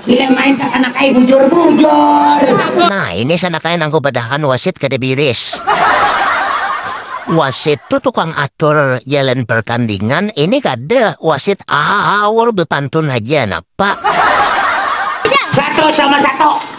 Bila main kakanak ai bujur-bujur. Nah, ini sanakai nang kubadahakan wasit kada biris. Wasit tu tukang atur jalan pertandingan, ini kada, wasit aawr bepantun haja, napa. Satu sama satu.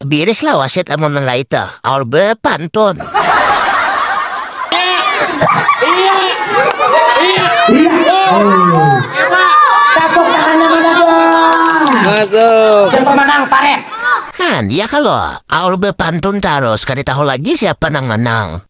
Biris lah wasit amun nilai itu. Aur bepantun. Masuk. Siapa menang paret? Nah, dia kalau aur bepantun terus, kada tahu lagi siapa nang menang.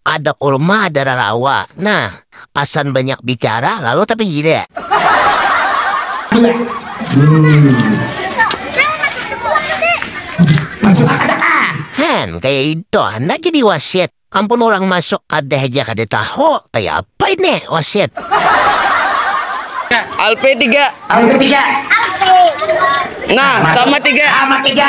Kada kurma ada rarawa. Nah, pasan banyak bicara lalu tapi gila. Hen, kaya itu handak jadi wasit. Ampun urang masuk kada haja kada tahu, kaya apa ini wasit. Alpe tiga. Alpe tiga. Alpe. Nah, sama tiga. Sama tiga.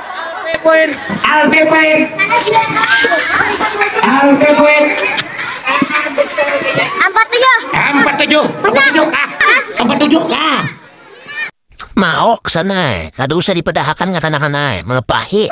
Maok sana ai, kada usah dipadahakan kakanakan ai, malapahi.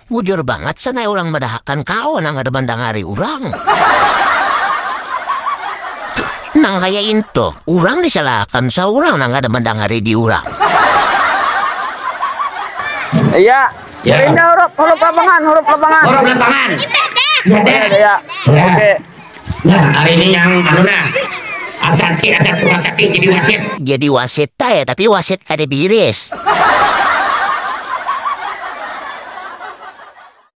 Bujur bangat sana urang madahakan kawa nang kada mandangari urang. Nang kaya intu, urang disalahakan saurang nang kada mandangari diurang. Iya. Ya. Pindah huruf, huruf lapangan, huruf lapangan. Huruf lapangan. Iya, iya. Oke. Nah, hari ini yang anu nah. Asarki asar tukang sakit jadi wasit. Jadi wasit ta ya, tapi wasit kada biris.